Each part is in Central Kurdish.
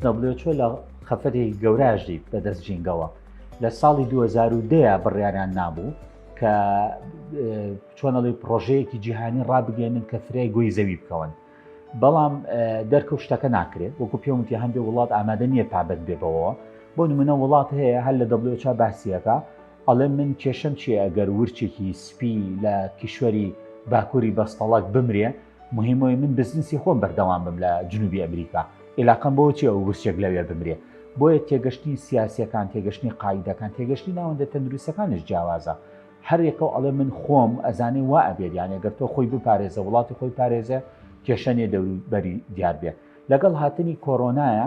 دەبلێوچۆ لە خەفەتێکی گەوراژدی بەدەست جینگەوە لە ساڵی 2010 بڕیاریان نابوو کە چۆنەڵی پرۆژەیەکی جیهانی ڕابگەێنن کە فرای گوی زەوی بکەون بەڵام دەرکە شتەکە ناکرێت وەکو پێوتی هەندێ وڵات ئامادە نییە پابند بێ بەوە بۆ نمونە وڵات هەیە هەر لە دەبلۆچا باسیەکە ئەڵێ من کێشم چیە ئەگەر ورچێکی سپی لە کیشوەری باکووری بەستەڵک بمرێ مهمەوەی من بزنسی خۆم بەردەوام بم لە جنوبی ئەمریکا ئێلاقم بۆ چێ و گرچێک لەوێ بمرێ بۆیە تێگەشتنی سیاسەکان تێگەشتنی قاعدەکان تێگەشتی ناوەندە تەندروستەکانش جیاوازە هەرێکە و ئەڵێ من خۆم ئەزانێ وا ئەبێت یانە گەر تۆ خۆی بپارێزە وڵاتی خۆی پارێزە کێشەنێ دەوروبەری دیار بێ لەگەڵ هاتنی کۆرۆنایە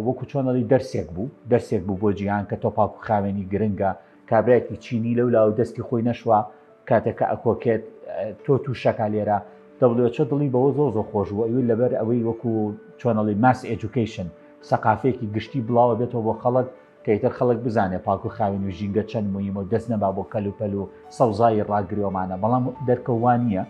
وەکو چۆن دەڵی دەرسێک بوو دەرسێک بوو بۆ جیهان کە تۆپاک و خاوێنی گرنگە کابراایکی چینی لەو لاو دەستی خۆی نەشوە کاتێکە ئەکۆکێت تۆ تووشەکە لێرە دەڵێچە دڵی بەوە زۆ زۆ خۆش بوو ئەوی لەبەر ئەوەی وەکو چۆنەڵی ماس ئەجوکیشن سەقافێکی گشتی بڵاوە بێتەوە بۆ خەڵک کە ئیتر خەڵک بزانێ پاک و خاوێن و ژینگە چەند مویمە و دەست نەبا بۆ کەل و پەل و سەوزایی ڕاگرێومانە بەڵام دەرکە وا نییە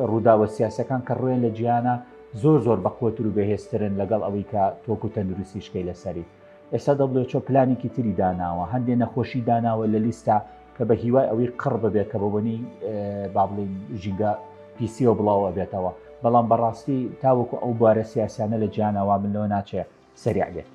ڕووداوە سیاسەکان کە ڕوێن لە جیانە زۆر زۆر بەقوەتر و بەهێزترن لەگەڵ ئەوەی کە تۆک و تەندروستی شکەی لەسەری ئێستا دەبلێچۆ پلانێکی تری داناوە هەندێ نەخۆشی داناوە لە لیستا کە بە هیوای ئەوەی قڕ ببێت کە بەوەنی بابلین ژینگە پیسیەوە بڵاوە بێتەوە بەڵام بەڕاستی تاوەکو ئەو بارە سیاسیانە لە جیانەوە من لەوە ناچێت سریع بێت